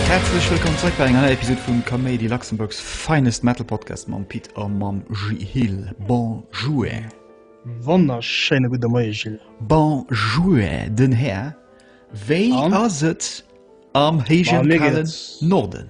Herzlech wëllkomm zréck bei enger neier Episode vum Kaméidi Luxemburgs finest Metal Podcast mam Pit a mam Gilles. Bonjour. Wonnerschéine gudde Moie Gilles. Bonjour, den Här. Wéi An? ass et am héijen Bah, mir kalen geht's. Norden?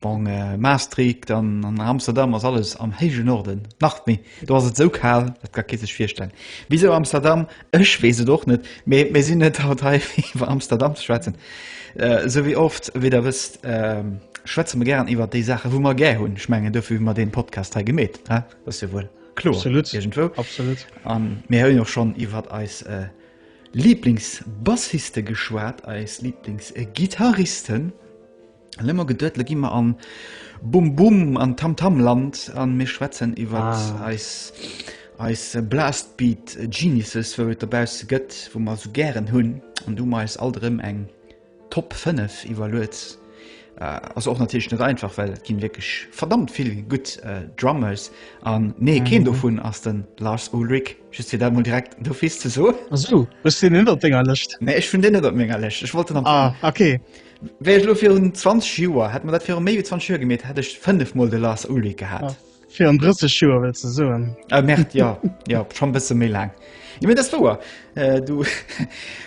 Bon, Maastricht an Amsterdam ass alles am héijen Norden, nach méi, do ass et esou kal, dat ka kee sech virstellen. Wisou Amsterdam? Ech weess et och net, mee mir sinn net haut hei fir iwwer Amsterdam ze schwätzen. Esou wéi oft, wéi der wësst, schwätze mer gären iwwer déi Saachen, wou mer gär hunn. Ech mengen, dofir hu mer dee Podcast hei gemeet, dat ass jo wuel kloer iergendwou. A mir hunn jo schonn iwwer eis Liiblingsbassiste geschwat, eis Liiblingsgitarristen. Lemmer gedëdle gi mer an Bum Bum an Tam Tam Land an mir schwätzen iwwer ah. eis eis Blastbeat Geniuses wou et derbausse gëtt, wou mer so gären hunn an du meis alt rëm eng Top 5 iwwerluets. Äh, ass och natierlech net einfach, well ginn wierklech verdammt vill gutt äh, Drummers an mee mhm. keen dovun ass den Lars Ulrich just fir dat mol direkt do fies ze so. Ass du? Wës den ënnert denger Lëscht? Nee, ech vun den net op ménger Lëscht. Ech wollt den am ah, okay. Fall. Wär ech elo virun 20 Joer, hätt mer dat virun méi wéi 20 Joer gemeet, hätt ech 5 mol de Lars Ulrich gehat. Virun 30 Joer wëlls de soen? Äh, Merd, ja. ja, schon e bësse méi laang. Jo, mir das wouer. Äh, du,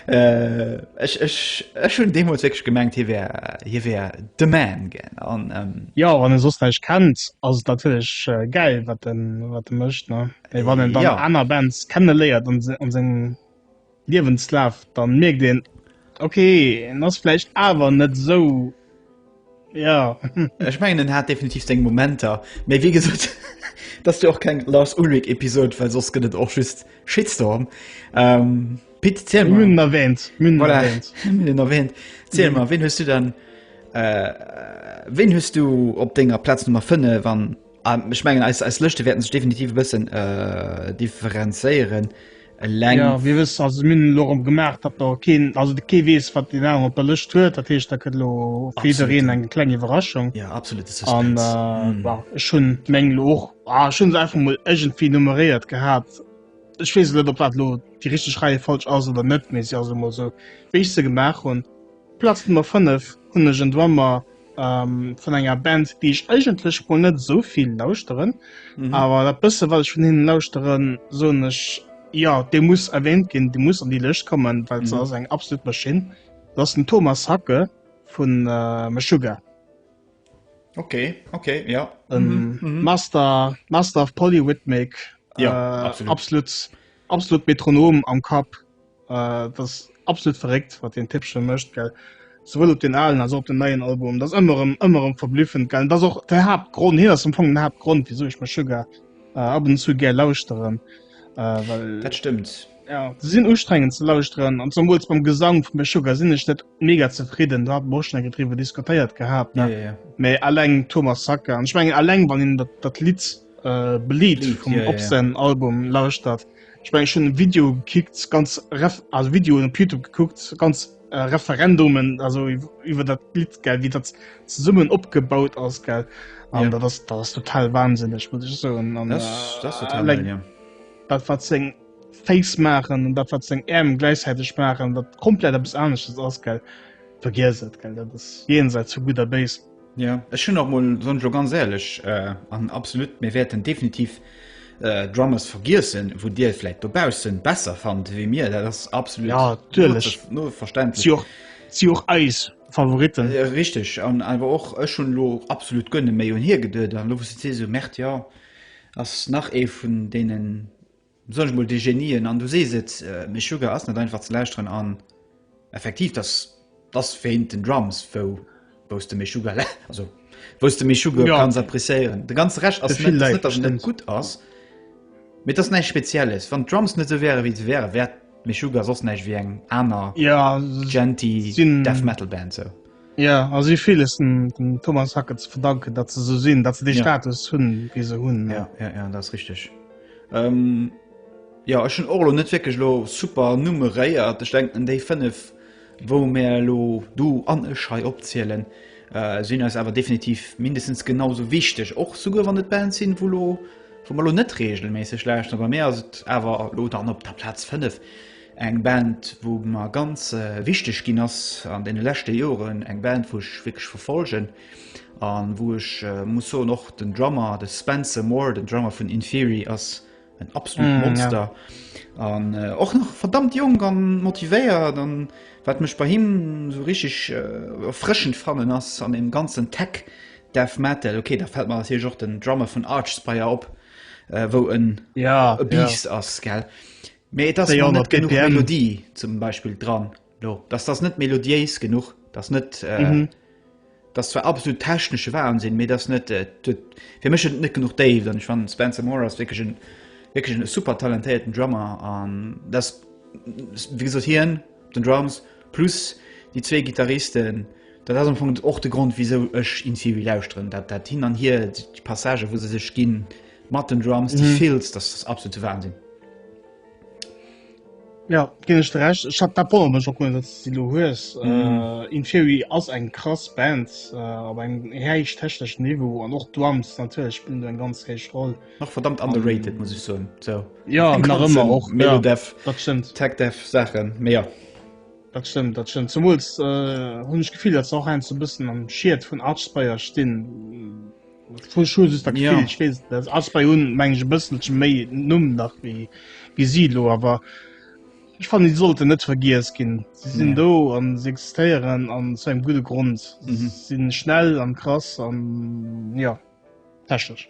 äh, ech, ech, ech hunn deemools wékeg gemengt, hie wär, hie wär de Man, gell, an, ähm, Ja, wann en soss näischt kennt, ass et natierlech äh, gäil, wat en, wat en mécht, ne? Mee wann en dann Ja. aner Bands kenne léiert an se, an seng. Liewenslaaf dann mierkt een ok en ass vläicht awer net esou jo. Ech mengen en hat definitiv seng Momenter, mee wéi gesot dat ass jo och keng Lars Ulrich Episode, well soss gëtt et och just Shitstorm. Pit ziel mol, mir hunn en erwähnt, mir hunn en erwähnt, mir hunn en erwähnt, ziel mol ween hues du dann, ween hues du op denger Plaz Nummer 5 an. Ech mengen eis Lëschte wäerten sech definitiv e bëssen äh, differenzéieren. Eleng. Ja, wie wëss also minn lo op gemaach, dat der keen also de kee wees wat den Aang op der Lëscht huet, dat heescht da kënnt lo fir iwwereen eng kleng Iwwerraschung. Ja absolut an ech hunn meng lo och ah, schon se einfach mol ëgentfir nummeréiert gehat. Ech wees net op wat lo Di richteg Reie falsch ass oder net méi si also mol sou wéi ech se gemaach hunn. Platz Nummer 5 hun ech en Drummer vun enger Band déi ech eigentlech mol net esou vill lauschteren, awer dat bësse wat ech vun hinnen lauschteren soen ech jo dee muss erwähnt ginn, dee muss an déi Lëscht kommen, well se ass eng absolut Maschinn. Dat ass den Thomas Hacke vun Meshuggah. Ok ok jo. E Master Master of Polyrhythmic, absolut absolut Metronom am Kapp. Äh, dat ass absolut verréckt, wat den Tippchen mécht, gell. Souwuel op den alen als op den neien Album. Dat ass ëmmer rëm, ëmmer rëm verblüffend, gell. Dat ass och de Haaptgrond, hien ass am Fong den Haaptgrond, wisou ech mech sougar äh, ab und zu gär lauschteren. Äh, well, Dat stëmmt. ja, se sinn ustrengend ze lauschteren. An zumwuels beim Gesang vum Meshuggah sinn ech net mega zefridden. Da hat mer och schon eng gedriwwer diskutéiert gehabt, Ja, ne? ja, ja. Mee alleng Thomas Sacke. An ich mengen alleng, wann een dat, dat Lied Bleed vum Obscen Album lauschtert. Ech meng ech hunn e Video gekickt ganz ref also Videoen op Youtube gekuckt ganz äh, Referendumen also iwwer dat Lied gell wie dat zesummen opgebaut ass gell an ja. dat ass dat ass total wahnsinnig muss ich so an das, äh, das total like, ja. dat wat seng Face machen und dat wat seng Äm gleichzeitig machen dat komplett bis anesches ass gell vergiss et gell dat ass jenseits zu guter Base Ja ech hunn och mol soen ech lo ganz éierlech an absolut mir wäerten definitiv äh, Drummers vergiessen, wou Dir vläit dobaussen besser fannt wéi mir, dat ass absolut ja, natürlich. no, no verständlech. Si och eis Favoriten. Äh, richtig an awer och ech hunn lo absolut gënne méi un hier geduet an lo se se Mäert ja ass nach ee vun deenen Besonnesch mol déi Genien, an du sees et, Meshuggah ass net einfach ze lauschteren an effektiv dass dass wéint den Drums wou wous de Meshuggah la also wous de Meshuggah jo kanns appreciéieren. De ganze Rescht ass net net dass en net gutt ass, mee et ass näischt spezielles. Wann d'Drums net sou wäre wéi se wäre wär Meshuggah soss näischt wéi eng aner genty death metal Band sou. Jo, a si hu villes dem Thomas Hackett ze verdanken, datt se esou sinn, datt se dee Status hunn, wéi se hunn. Jo, jo, jo, dat ass richteg. Jo, ech hunn och elo net wierklech elo super nummeréiert. Ech denken, déi fënnef, wou mir elo, du an ech, hei opzielen, sinn eis awer definitiv mindestens genau sou wichteg, och souguer wann et Bands sinn, wou elo, wou mer elo net reegelméisseg lauschteren. Bei mir ass et awer elo dann op der Plaz fënnef, Eng Band wou mer ganz wichteg ginn ass an deene leschte Joren, eng Band wou ech wierklech verfolgen an wou ech muss soen och den Drummer, de Spencer Moore, den Drummer vun Inferi ass en absolut Monster an och nach verdammt jonk an motivéiert an wat mech bei him sou richteg erfrëschend fannen ass an deem ganzen Tech Death Metal, ok da fält mer natierlech och den Drummer vun Archspire op wou en e Biest ass gell. Mee et ass net genuch Melodie zum Beispill dran do, dass dass net melodiéis genuch, dass net äh, mhm. dass zwar absolut technesche Waren sinn, mee dass net äh, fir mech net genuch Dave, dann ich fan Spencer Moore ass wirklich en, wirklich en super talentéierten Drummer an das wie gesot hien Den Drums plus déi zwee Gittaristen, dat ass am Fong och de Grond wisou ech Insiouii lauschteren. Dat dat hin an hier, déi Passagen wou se sech ginn mat den Drums, déi fills, dat ass absolute Wahnsinn. Jo ginn ech der Recht. Ech hat dat wonnert mech och net datt s de déi elo hues. Insiouii ass eng krass Band op engem héichtechneschen Niveau an och d'Drums natierlech spillen do eng ganz héich Roll. nach verdammt underrated muss ich so so ja nach immer auch ja, Dev, das stimmt tag Dev Sachen mehr das stimmt das stimmt zum äh, hun ich gefiel das auch ein zu bisschen am schiiert von Archspeier stehen voll Schu ist da ja. ich weiß, das als bei un mein ich bisschen me num nach wie wie silo aber ich fand die sollte net vergis gehen sie sind ja. do an sie existieren an zu einem gute grund mhm. sind schnell an krass an ja technisch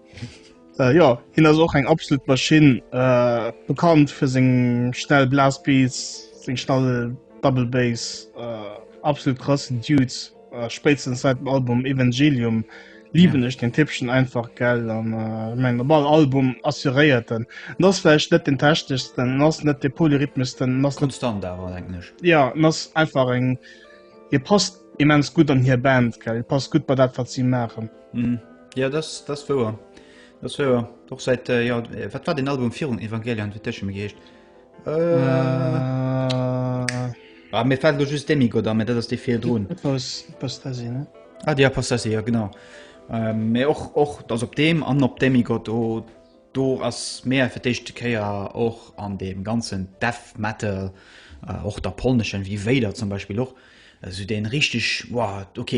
Äh, jo, hien ass och eng absolut Maschinn, äh, bekannt fir seng schnell Blasbeats, seng schnell Double Bass, äh, absolut krassen Dude. Äh, spéitstens seit dem Album Evangelium lieben ech den Tippchen einfach gell an äh, meng op all Album assuréiert den. En ass vläicht net den techneschsten, en ass net de polyrhythmesten, en ass net Konstant awer, denken ech. ja, en ass einfach eng hie passt Immens gutt an hir Band gell passt gutt bei dat wat si maachen. Mm. Ja das das wouer das wouer doch seit äh, ja äh, wat war den Album virun Evangelion fir Tësche mir geescht äh, äh, ah, mir fällt lo just Demi Goda mir dat ass de fir droen Pastasien ne Ah Dir Pastasien ja genau mé ähm, och och dats op deem an op Demi Gott o oh, do ass mé fir d'éischte Kéier och an deem ganzen Death Metal. Äh, och der polneschen wie Wéider zum Beispill och Esou deen richteg what, ok,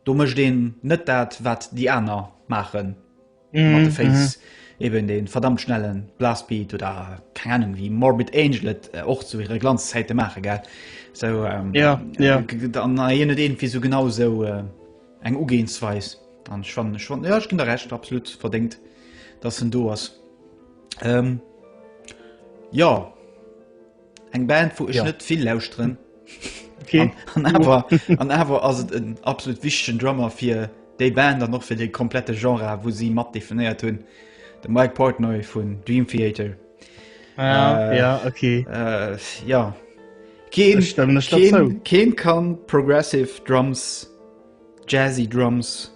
do mecht een net dat wat déi aaner maachen mat de Féiss, eben deen verdammt schnellen Blast Beat oder keng Ahnung wéi Morbid Angel et och zu hire Glanzzäiten maachen gell, esou an hien huet iergendwéi sou genau esou eng Ugehensweis an ech fannen, ech fannen jo ech ginn der Recht absolut verdéngt dass en do ass jo. Eng Band wou ech ja. net vill lausren okay. an awer ass et en absolut wichten Drammer fir déi Band an noch fir de komplette Genre wou si mat definéiert hunn de Mike Portnoy vun Dream Theater. Ah, äh, ja okay. Äh, ja. Keen, keen, keen, keen kann progressive Drums, Jazzy Drums.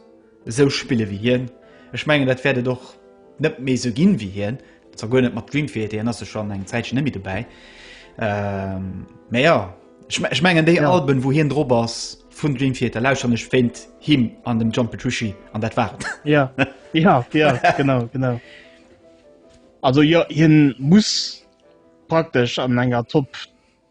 Esou spille wéi hien. Ech mengen dat wäert et och net méi esou ginn wéi hien. Zwar guer net mat Dream Theater, hien ass jo schonn eng Zäitchen net méi dobäi. Mä jo, ech mengen déi Alben wou hien drop ass vun Dream Theater lauschteren ech wéint him an dem John Petrucci an dat war et. Jo, jo, jo, genau, genau. Also jo, hien muss praktesch an enger Top.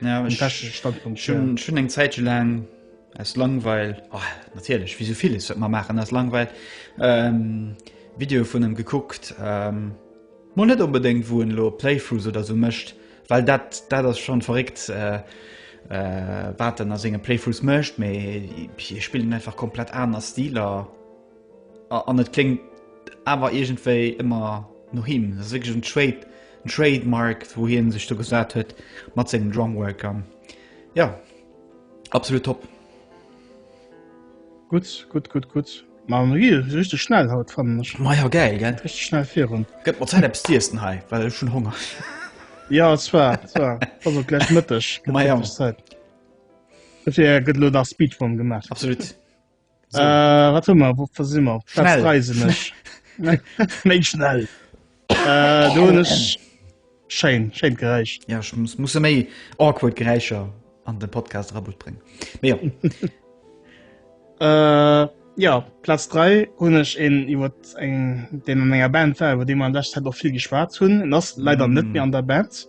Ja, ech, ech hunn eng Zäitche laang aus Langweil oh, natierlech wéi souviles wat man maachen ass Langweil ähm, Video vun em gekuckt ähm, Mo net onbedéngt wou en lo Playthroughs oder sou mécht, well dat dat ass schon verréckt äh, äh, wat en a senge Playthroughs mécht, mee hie spillen einfach komplett aner Stiler. An et kléngt awer iergendwéi ëmmer no him. Dat ass wierklech en Trade, en Trademark, wou hie sech do gesat huet mat sengem Drumwork. An jo, absolut top. Gutt, gutt, gutt, gutt. Ma mir gi richteg schnell haut, fannen ech. Ma jo, gäil, gell? Richteg schnell virun. Gëtt mat Zäit eppes z'iessen hei, well ech hunn Honger. Jo, et war, et war. Ass och gläich Mëtteg. Ma jo. Dofir gëtt elo nach Speedrun gemaach. Absolut. So. Äh, wat hu mer wat si mer Platzreiseneg méi schnell äh, do nech Schein Schein gereich Ja ich muss, muss méi awkward Geräicher an den Podcast Rabot bringen Me ja. äh, ja Platz 3 hun ech en iwwer eng den an enger Band war, iwwer de man dat hat och viel geschwaart hunn ass leider mm. net mir an der Band.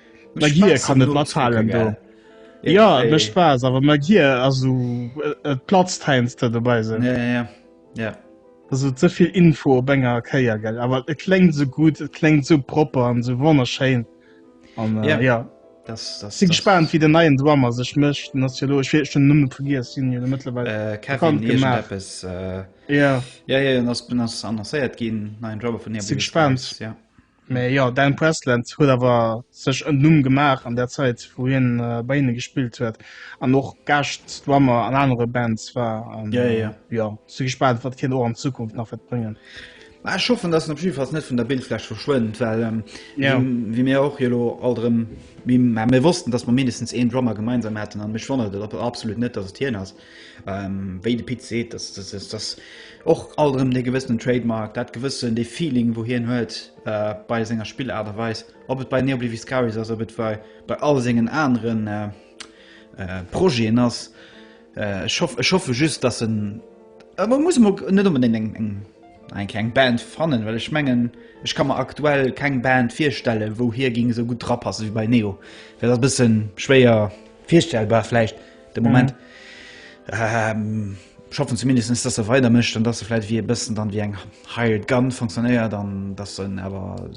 Mein Gehir kann net matfalen do. Ja, et mécht Spaass, awer mein Gehir ass esou, et platzt heiansdo dat dobäi esou. Ja, ja, ja. Also ze vill Info op enger Kéier, gell. Awer et kléngt esou gutt, et kléngt esou propper an esou wonnerschéin. An ja, ech si gespaant, wéi den neien Drummer sech mécht. Den ass jo elo, ech weess, ech hunn den Numm vergiess, si jo mëttlerweil bekannt gemaach. Ja, ja, hien ass annoncéiert ginn, neien Drummer vun Nebulous's Eyes. Si gespaant. Mee jo, Dan Presland huet awer sech en Numm gemaach an der Zäit, wou hien bei hinne gespillt huet an och Gäschtdrummer an anere Bands war. Ja, ja. Jo, si gespaant, wat hien och an Zukunft nach wäert bréngen. Ah, ech hoffen, dass en op jidde Falls net vun der Bildfläch verschwënnt, well ja. wéi mir och elo alt erëm mir wossten, dass mer mindestens een Drummer gemeinsam haten an mech wonnert et absolut net, dass et hien ass. Wéi de Pit seet, dat ass och alt erëm dee gewëssenen Trademark, dat gewëssen, dee Feeling, wou hien huet bei senger Spillaart a Weis. Ob et bei NeoBliviscaris ass, ob et bei all sengen anere Projeten ass, ech hoffe just, dass en, e muss net onbedéngt enk eng Band fannen, well ech mengen, ech ka mer aktuell keng Band virstellen, wou hie géing esou gutt drapassen, wéi bei Neo. Dat ass e bësse schwéier. Virstellbar vläicht de Moment. Mhm. Äh, schaffen zumindest dass se weiter mischt und dass se vielleicht wie e bisschen dann wie eng hired gun funktioniert dann das sind aber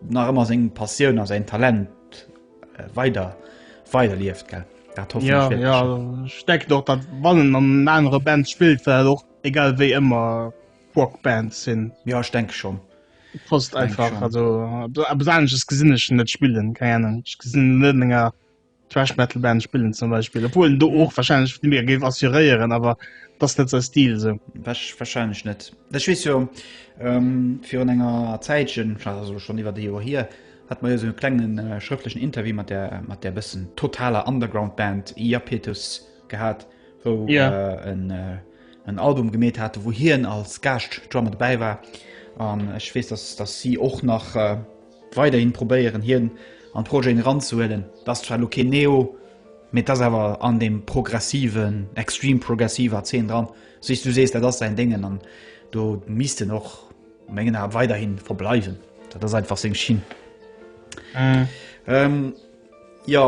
nach immer sing passion aus ein talent äh, weiter weiter lieft ge ja, ja, steckt doch dat wannnnen an andere band spielt well doch egal wie immer rockband sinn ja ich denke schon post einfach schon. also besonches gesinneschen net spielen keine ich gesinn Thrash Metal Band spillen zum Beispiel obwohl du och wahrscheinlich viel mehr gebe assurieren aber das net sein Stil so Wasch, wahrscheinlich net das schwi ja ähm, für enger Zeitchen also schon über die Uhr hier hat man ja so einen klengen äh, schriftlichen Interview mit der mit der bisschen totaler Underground Band Iapetus gehabt wo ja. äh, ein, äh, ein Album gemäht hatte wo hier als Gast Drummer dabei war an ich weiß dass dass sie auch nach äh, Weiderhin probéieren hien an d'Projeten eranzehuelen. D'ass zwar elo keen Neo, mee d'ass awer an deem progressiven, extreme progressive Azeen dran, wéi s du sees. Dat ass säin Déngen an do misst en och a mengen Ae weiderhin verbleiwen. Dat ass einfach seng Schinn. Jo,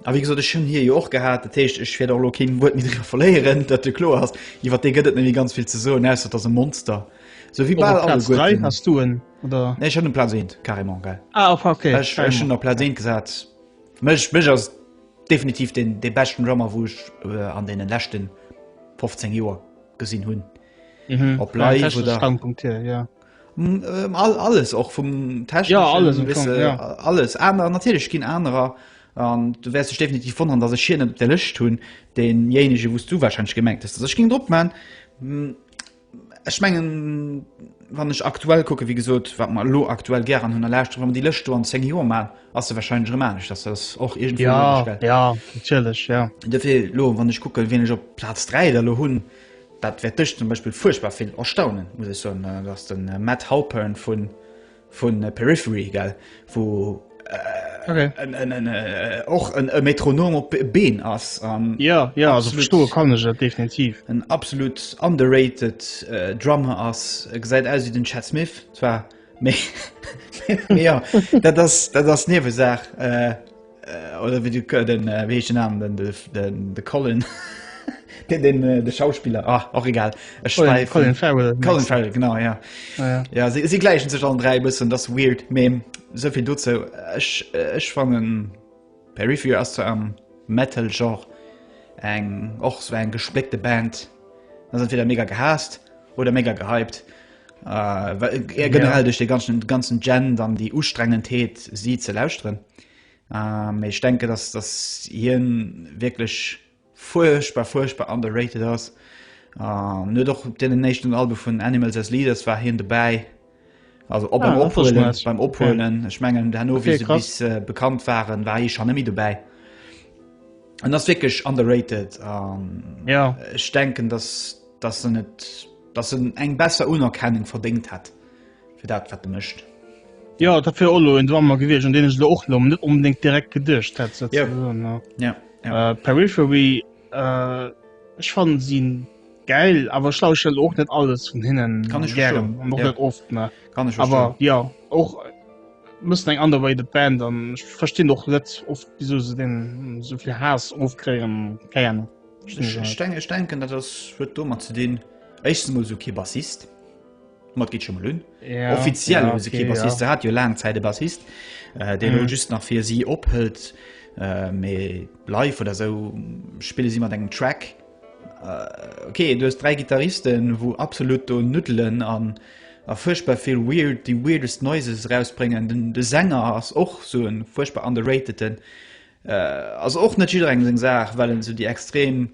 a wéi gesot, ech hunn hie jo och gehat, dat heescht ech wäert och elo keen Wuert méi driwwer verléieren, dat jo kloer ass. Iwwer dee gëtt et net méi ganz vill ze soen, ausser et ass e Monster, sou wéi bal alleguerten. oder nee, schon um Platz 1 carrément geil ah, okay. ich, ich schon der Platz 1 gesagt mich, mich als definitiv den de besten Drummer wo ich äh, an den letzten 15 Joer gesinn hunn mhm. op live oder Standpunkt hier, ja. Mm, ähm, all, alles och vum Test ja, alles, wisse, ja. alles aner natürlich ginn anerer an du wärst dich definitiv von an dass ich hier der Lëcht hunn denjenige wost du wahrscheinlich gemerkt hast ich ging drop man mm, Ech mengen, wann ech aktuell kucken, wéi gesot, wat mer elo aktuell gären hunn a lauschteren, wa mer déi Lëscht do an zéng Joer maachen, ass se wahrscheinlech erëm anescht. Dass ass och iergendwou logesch, gell? Jo, jo, natierlech, jo. Duerfir elo, wann ech kucken, wien ech op Plaz dräi da elo hunn, dat wäert dech zum Beispill fuerchtbar vill erstaunen, muss ech soen, dass de Matt Halpern vu Vun Periphery, gell, wou och en e Metronom op Been ass. Jo, jo, also verstoe kann ech et definitiv. En absolut underrated Drummer ass. E gesäit aus wéi den Chad Smith zwar, mee jo, dat ass, dat ass Niewesaach. oder wie du äh, den äh, wie hecht den Namen den de, de, de Colin den, den äh, de Schauspieler ah, och egal Ech Colin, schweifen. Colin Farrell Colin Farrell genau ja ah, ja, ja sie, sie gleichen sech an drei bëssen das weird Mem sovill dozo Ech äh, ech fannen Perry Fear ass zu am Metal Genre eng och so eng gespléckte Band ass entweder mega gehasst oder mega gehypt. Generell duerch de ganzen Gen dann déi Ustrengendheet si ze lauschteren. Méi ech denke, datt datt hien wierklech fuerchtbar fuerchtbar underrated ass. net och op deenen éischten Albe vun Animals as Leaders war hien dobäi. Also op ah, ophuelen, beim ophuelen okay. ich mengen der no wie okay, bis äh, bekannt waren war ich schon nemmi dobäi an das wirklich underrated ähm, ja ich denken dass das net Dass en eng besser Unerkennung verdéngt hätt fir dat wat e mécht. Jo, dat wär och elo en Drummer gewiescht, un deen ech elo och elo net onbedéngt direkt geduecht hätt. Yep. Ja, ja. Äh, Periphery, äh, ech fannen si geil, awer ech lauschel och net alles vun hinnen. Kann ech verstoen. An och ja. net oft, ne? Kann ech verstoen. Aber ja, och mëssen eng ander Way the Band an ech verstinn och net oft wieso se den sovill Haas ofkréien kéien. Ech denken dat huet domat ze dinn Echtens mol sou kee Bassist mat gitt schon mal un yeah, offiziell yeah, okay, Bassist yeah. hat jo lang Zeit de Bassist äh, den mm. just nach fir sie ophëlt äh, méi live oder so spiele sie mat engem Track äh, okay du hast drei Gitarristen wo absolut do Nudelen an a furchtbar viel weird die weirdest noises rausbringen den de Sänger ass och so en furchtbar underrateden Ass och net jidderengem seng Saach, well en esou déi extrem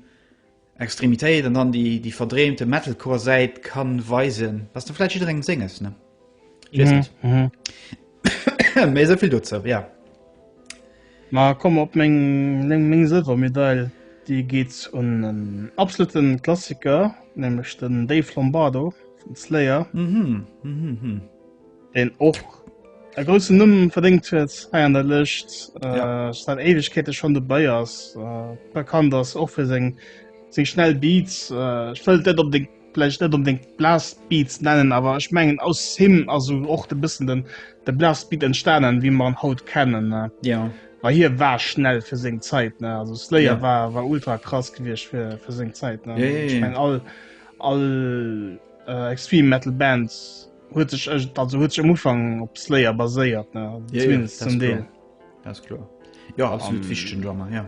Extremitéit an dann déi déi verdreemte Metalcore Säit kann weisen. Ass da vläit jidderengem senges, ne? Ich weess net. Mee esou vill dozou, ja. Ma komm op meng meng meng Sëlwermedail, déi geet un en absolute Klassiker, nämlech den Dave Lombardo vun Slayer. deen och e groussen Numm verdéngt huet hei an der Lëscht, seit Éiwegkeete schonn dobäi ass, bekannt ass och fir seng seng schnell Beats. Ech wëllt net op de vläicht net onbedéngt Blastbeats nennen, awer ech mengen aus him ass esou och de bëssen den de Blastbeat entstanen, wéi mer en haut kennen, ne? Jo. Well hie war schnell fir seng Zäit, ne? Also Slayer war war ultra krass gewiescht fir fir seng Zäit, ne? Jo, jo, jo. Ech meng all all Extreme Metal Band. huet sech echt also huet sech am Ufang op Slayer baséiert ne also Ja, ja, zumindest das zum ist Deel klar. Das ist klar. Ja, absolut wichtigen Drummer, ja.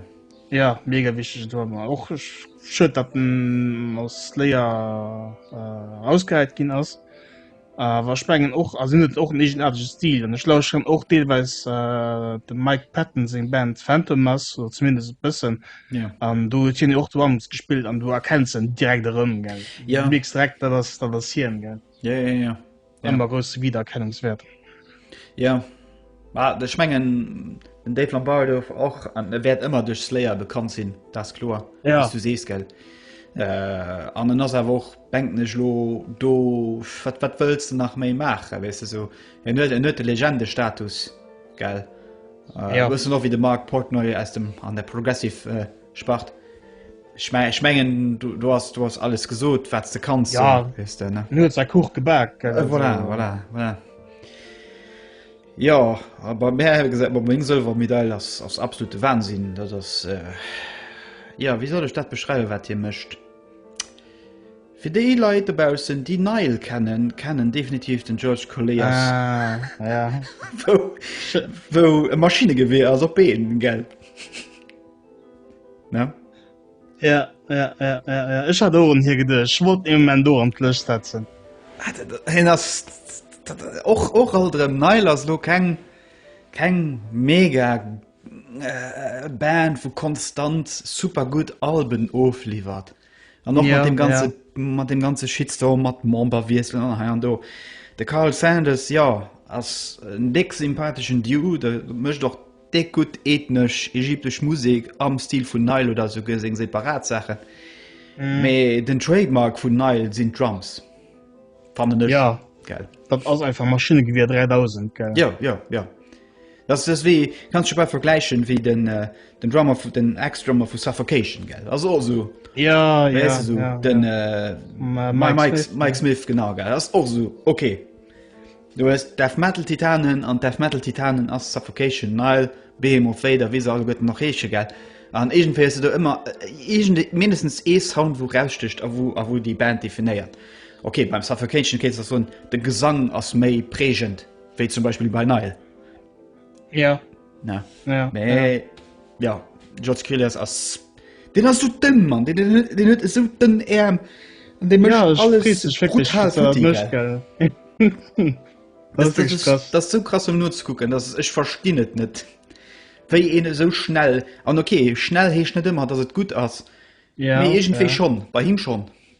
ja mega wichtege Drummer och ech schued dat den aus Slayer äh, ausgehäit ginn ass awer ech mengen och a sinn et och en egenartege Stil an ech lauschteren och deelweis äh, de Mike Patton seng Band Phantom ass oder zumindest e bëssen Ja. an do huet hien jo och Drums gespillt an du erkenns en direkt erëm gell Ja. du mierks direkt dat ass dat ass hien gell Ja, ja, ja. Dann war grosse Wiedererkennungswert. Ja. Ma ech mengen den Dave Lambert douf och an e wäert ëmmer duerch Slayer bekannt sinn, dat is kloer. Ja. Wéi s du sees, gell. Äh, an en ass awer och bänkeneg lo do wat wat wëlls du nach méi maache wees du so en huet en huet de Legendestatus gell äh, Ja. ja. noch wie de Mark Portnoy aus dem an der Progressive äh, Spart. Ech mein, ech mengen du, du hast du hast alles gesot wat ze kannst ja. so, weißt du, ne? Nur sei Kuch gebak äh, voilà, voilà, voilà. Ja aber Mä gesagt ma meng Sëlwer Medail ass ass absolute Wahnsinn, dat ass äh, ja wie soll ech dat beschreiwe wat hie mëscht. Fir déi Leit dobaussen déi Neil kennen, kennen definitiv den George Colliers ah, ja. wou e Maschinegewehr ass op Been gell. Ja. Ja, ja, ja, ja, ja. Ech hat Ohren hier gedech. Ech wollt im Moment do an d'Lëscht setzen. Ah, Hin ass och och all dem Neil ass lo keng keng mega äh, Band vu konstant super gut Alben ofliefert. an noch ja, mat dem ganze ja. mat dem ganze Shitstorm mat Member wieselen an ha an do de Carl Sanders ja ass en deck sympathischen Dieu de mëcht doch deck gut ethnesch ägyptesch Musik am Stil vun Neil oder so geseng separat Sachen méi mm. den Trademark vun Neil sinn Drums fan ja. geld dat ass einfach Maschinne gewier 3000 gell? ja ja ja Dass dass wéi kanns scho bal vergläichen wéi den äh, den Drummer vu den Ex-Drummer vu Suffocation gell ass och so Ja, ja, weißt du, so, ja, den ja. Äh, Ma, Mike, Mike, Smith, Mike Smith genau gell ass och so okay Du hast Death Metal Titanen an Death Metal Titanen ass Suffocation Nile Behemoth Vader wéi se all gëtt nach heesche gell an egentfir se do ëmmer äh, egent mindestens ee Sound wo rausstecht a wo a wo déi Band definéiert Okay beim Suffocation kéint ass so de Gesang ass méi prägend Wéi zum Beispill bei Nile. Ja. Na. Ja. Nee. Ja. George Kilias ass. Den ass so dënn, Mann. Den, den, den, den huet so dënn Äerm. Und den ja, macht alles friss, ich wirklich, brutal was er futti, möchte, gell. gell. Das, das, das, krass. das so krass um nur zu gucken das ich verstehe nicht nicht wie eine so schnell an okay schnell he nicht immer dass es gut aus ja, irgendwie ja. schon bei ihm schon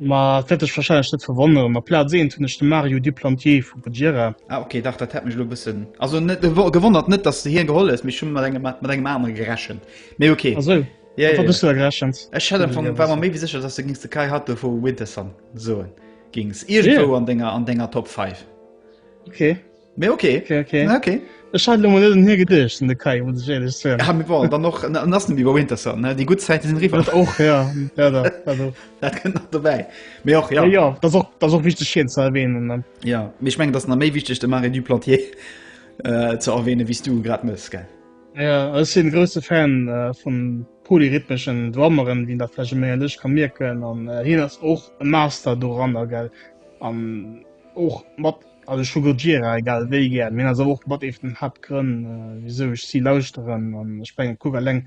Ma et wäert dech wahrscheinlech net verwonneren, ma Plaz 1 hunn ech de Mario Duplantier vu Buggira. Ah ok, dach dat hätt mech elo e bëssen, also net gewonnert, net dass s de hien geholl hues, mee ech hu mat engem mat engem anere gerechent, mee ok. Ah sou, mat wat hues du da gerechent? Ech hätt afank, war mer méi wéi sécher, dass s de gings de Kai Hatto vu Winterson soen gings, iergendwou an denger an denger Top 5. Ok. Mee ok okay, okay. Ah, okay. Ech hat lommer net un hie gedeecht an de Kai muss ech ehrlech sinn. Ja, mir waren dann noch an an ass iwwer Winter Sun ne déi gutt Zäite sinn riwwer. Dat och ja leider also Dat kënnt nach dobäi. Mee och ja ja, ja dat och dat och wichteg hien ze erwähnen ne. ja mee ech mengen dat ass nach méi wichteg de Marais du Plantier äh, ze erwähne wéi s du grad mëss gell. Ja ech sinn e grousse Fan äh, vun polyrhythmeschen Drummeren, wien dat vläch e méi an dech ka mierken an äh, hien ass och e Master doranner gell an och mat Also ech hu Gojira egal wéi gär, mee dat ass awer och mat ee vun den Haaptgrënn wisou ech si lauschteren an ech mengen kuck eleng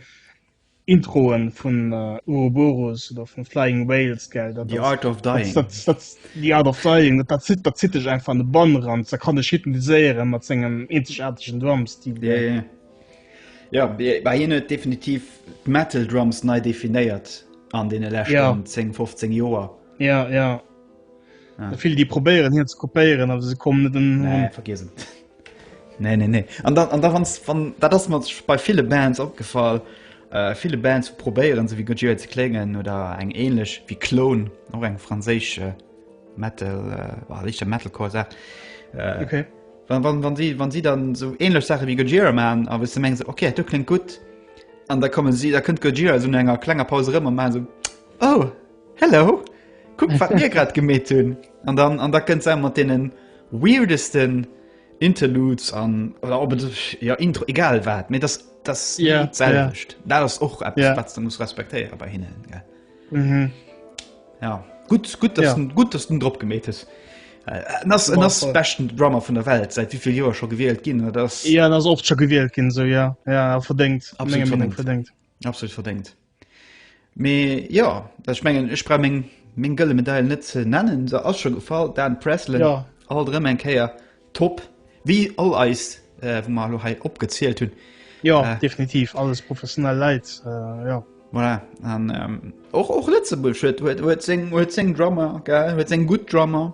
Introen vun Ouroboros oder vun Flying Whales gell dat The Art of Dying dat dat dat The Art of Dying dat dat zitt dat zitt dech einfach an de Bann eran dat kann dech hypnotiséieren mat sengem eenzegaartegen Drumstil yeah yeah ja yeah bah hien huet definitiv d'Metal Drums nei definéiert an deene leschten yeah 10 15 Joer ja yeah ja Vill déi probéieren hien ze kopéieren, a se kommen net den nee, vergesen. Nee nee nee. An da, da wann, wann dat ass mat bei file Bands opgefall. Äh, viele Bands probéieren se wie gut ze klengen oder eng ähnlich wie Klon och eng franzésche äh, Metal äh, lichter Metalcore sagt äh, okay. wann, wann, wann, sie, wann sie dann so ähnlich Sache wie Gojira man aber du meng se okay du klingt gut an da kommen sie da könnt Gojira so enger klenger Pause rmmer man so oh Hello! Kuck wat mir grad gemeet hunn! An dann an da kënnt se mat deene weirdesten Interludes an oder op et ja Intro egal wat méi dat dat yeah, selwecht. Yeah. Dat ass och yeah. wat du muss respektéiere bei hinnen. Ja. Mm -hmm. ja. Gut gut ja. gut dass den Dr gemet is. Äh, nass en ass bechten Drammer vun der Welt seit wievill Joer scho gewielt ginn das ja, ass oft scho gewielt ginn so ja ja verdekt verdekt. Absolut verdéngt. Mee jo, ech mengen ech brauch meng meng gëlle Medail net ze nennen, se ass scho gefall. Dan Pressley ja. alt rëm eng Kéier top wéi all eis äh, wo mar lo hei opgezielt hunn. Ja äh, definitiv alles professionell Leiit äh, ja. Voilà. An ähm, och och Lëtzebuerg huet huet huet seng huet seng Drummer, huet seng gutt Drummer.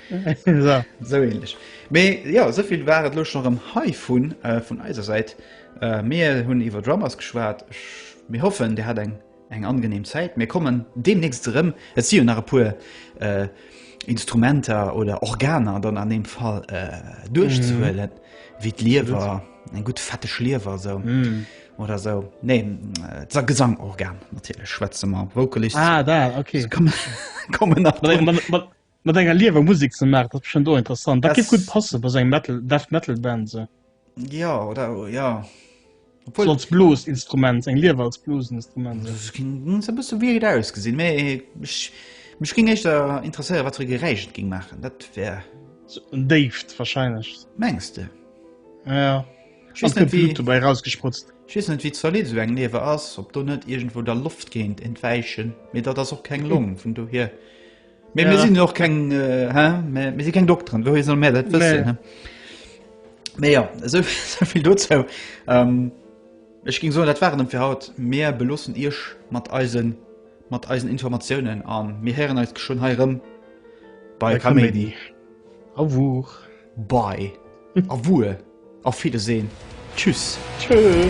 Sou ähnlech. Mee jo, esouvill war et elo scho rëm heivun, vun eiser Säit. Mir hunn iwwer Drummers geschwat. Mir hoffen, Dir hat eng eng angenehm Zäit. Mir kommen deemnächst erëm. Et si jo nach e puer Instrumenter oder Organer dann an deem Fall duerchzehuelen, wéi d'Liewer, eng gutt fetteg Liewer esou oder esou. Nee, d'Sa Gesangorgan natierlech schwätze mer. Vocalist kommen nach drun. Mat enger liewer Musik ze maachen, dat ass bestimmt och interessant. Dat géif gutt passen bei esou eng Metal, Death Metal Band esou. Jo, oder jo. Obwuel. Als Bluesinstrument, eng Liewer als Bluesinstrument esou. Dat ginn se e bësse weird ausgesinn, mee ech, mech géing éischter interesséieren, wat fir e Geräisch et géing maachen. Dat wär. Sou en déift wahrscheinlech. Mengs de? Ja. Ech weess net, wéi. Blut dobäi erausgesprutzt. Ech weess net, wéi zolidd esou eng Liewer ass, ob do net iergendwou da Loft géint entwäichen, mee dat ass och keng Long, vun dohier. Mee mir sinn och keng mir si keng Dokteren, wouhi soll mär dat wëssen? Mee jo, esouvill dozou. Ech géing soen, dat war et erëm fir haut. Mir beloossen iech mat eisen, mat eisen Informatiounen a mir héieren eis geschwënn hei erëm bei Kaméidi. Au revoir. Bei. Au revoir. Auf Wiedersehen. Tschüss. Tschö.